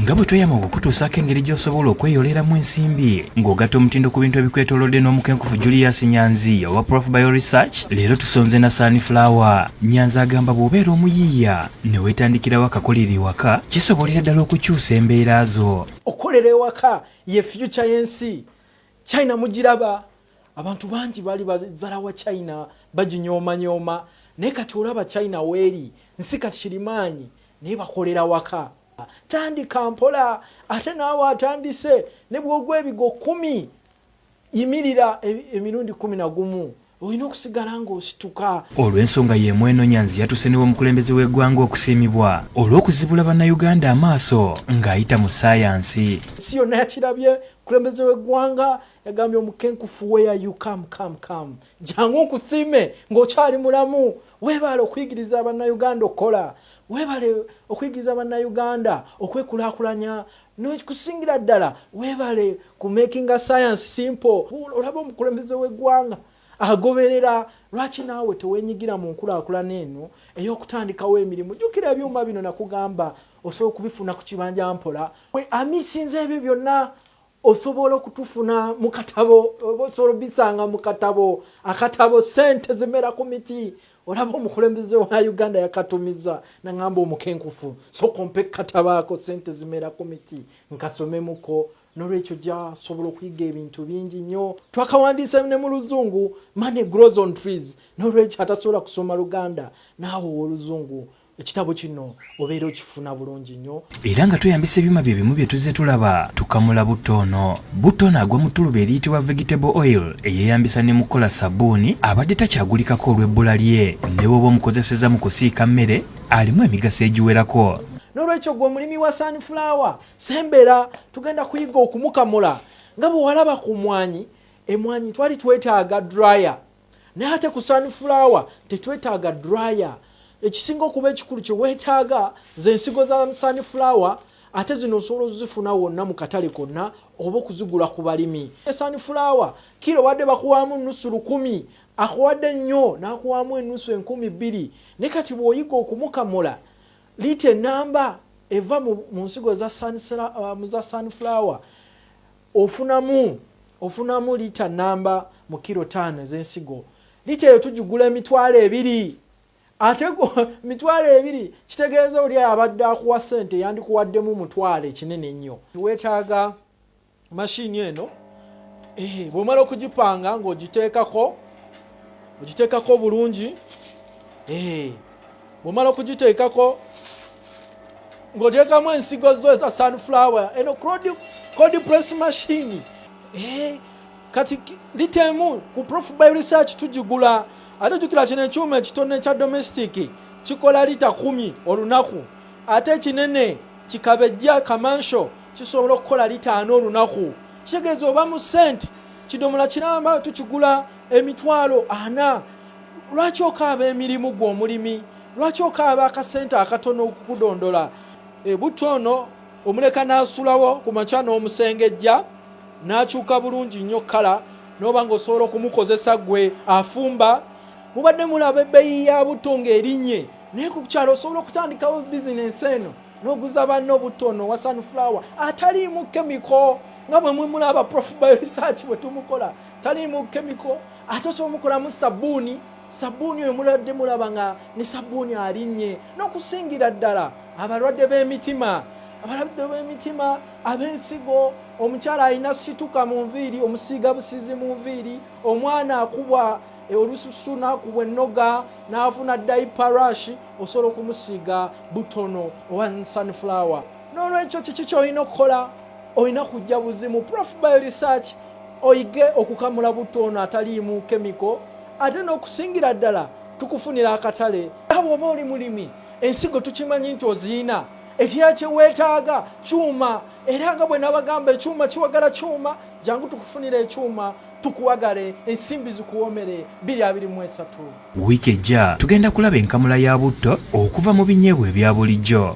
nga bwe tweyama okukutuusaako engeri gy'osobola okweyoleramu ensimbi ng'ogatta omutindo ku bintu ebikwetolodde n'omukenkufu julius nyanzi owa prof bio research leero tusonze na sunflower nyanzi agamba bw'obeera omuyiiya ne weetandikirawo akakolera ewaka kisobolera ddala okukyusa embeera zo okukolera ewaka ye fyuca y'ensi china mugiraba abantu bangi bali bazala wa china baginyoomanyoma naye kati olaba china weeri nsi kati kirimaanyi naye bakolera waka tandika mpola ate naawe atandise ne bwogwa ebigo kumi yimirira e, emirundi kumi na gumu olina okusigala ng'osituka olw'ensonga y'emu eno nyanzi yatuse ne w'omukulembeze w'eggwanga okusiimibwa olw'okuzibula bannayuganda amaaso ng'ayita mu ssaayansi ensi yonna yakirabye mukulembeze w'eggwanga yagambye omukenkufu weya you come come come jangu nkusiime ng'okyali mulamu weebaale okuyigiriza bannayuganda okukola weebale okuyigiriza bannayuganda okwekulaakulanya nokusingira ddala webale ku making a science simple olaba omukulembeze wegwanga agoberera lwaki naawe tewenyigira mu nkulakulana eno eyokutandikawo emirimu jukira ebyuma bino nakugamba osobola okubifuna ku kibanja mpola amisinza ebyo byonna osobola okutufuna mukatabo osobola obisanga mukatabo akatabo sente zimera ku miti olaba omukulembeze wa uganda yakatumiza naŋamba omukenkufu soka ompe katabaako sente zimera ku miti nkasomemuko nolwekyo gyasobola okuyiga ebintu bingi nnyo twakawandiisa ne mu luzungu money grows on trees nolwekyo atasobola kusoma luganda naawe owoluzungu ekitabo kino obeera okifuna bulungi nnyo era nga tweyambisa ebyuma bye bimu bye tuzze tulaba tukamula butto ono butto ono agwa mu ttuluba eriyitibwa vegetable oil eyeeyambisa ne mu kukola sabbuuni abadde takyagulikako olw'ebbula lye ne bwoba omukozeseza mu kusiika mmere alimu emigaso egiwerako n'olwekyo gwe omulimi wa sunflower sembera tugenda kuyiga okumukamula nga bwe walaba ku mwanyi emwanyi twali twetaaga dryer naye ate ku sunflower tetwetaaga dryer ekisinga okuba ekikulu kyewetaaga ze nsigo za sunflower ate zino osobola ozifuna wonna mu katale konna oba okuzigula ku balimi sunflower kira obadde bakuwaamu nusu lukumi akuwadde nnyo n'akuwaamu enusu enkumi bbiri ne kati bw'oyiga okumukamula liita enamba eva mu nsigo za uh, sunflower Ofunamu ofunamu lita nnamba mu kiro taano ez'ensigo. Lita eyo tugigula emitwalo ebiri. Ate mitwalo ebiri kitegeeza oli abadde akuwa ssente yandikuwaddemu mutwalo ekinene ennyo. Weetaaga mashini eno eh, bw'omala okugipanga ng'ogiteekako ogiteekako bulungi eh. bwomala okugiteekako ng'oteekamu ensigo zo eza sunflower eno cod press machine eh, kati litemu ku prof by research tugigula ate jukira kino ekyuma ekitone ekya domestic kikola lita kumi olunaku ate ekinene kikabejja kamansho kisobola okukola litaano olunaku kitegeeza oba mu sente kidomola kiramba tukigula emitwalo ana lwaki okaaba emirimu gwe omulimi lwaki okaaba akasente akatono okukudondola ebutto eh, ono omuleka n'asulawo ku makya n'omusengejja n'akyuka bulungi nnyo kkala n'oba ng'osobola okumukozesa gwe afumba mubadde mulaba ebbeyi ya butto ng'erinnye naye ku kyalo osobola okutandikawo bizinensi eno n'oguza banno obutto ono wa sunflower ataliimu kemiko nga bwe mwemulaba prof by research bwe tumukola taliimu kemiko ate osobola omukolamu sabbuuni sabbuuni oyo mulabadde mulaba nga ne sabbuuni alinnye n'okusingira ddala abalwadde b'emitima abalabidde b'emitima ab'ensigo omukyala alina situka mu nviiri omusiiga busizi mu nviiri omwana akubwa e, olususu n'akubwa ennoga n'afuna dayiparashi osobola okumusiiga butono owa sunflower n'olwekyo kiki kyolina okukola olina kujja buzimu prof by research oyige okukamula butto ono ataliimu kemiko ate n'okusingira ddala tukufunira akatale awo oba oli mulimi ensigo tukimanyi nti oziina ekira kyeweetaaga kyuma era nga bwe nabagamba ekyuma kiwagala kyuma jangu tukufunira ekyuma tukuwagale ensimbi zikuwomere biri abiri mu esatu wiiki ejja tugenda kulaba enkamula ya butto okuva mu binyeebwa ebya bulijjo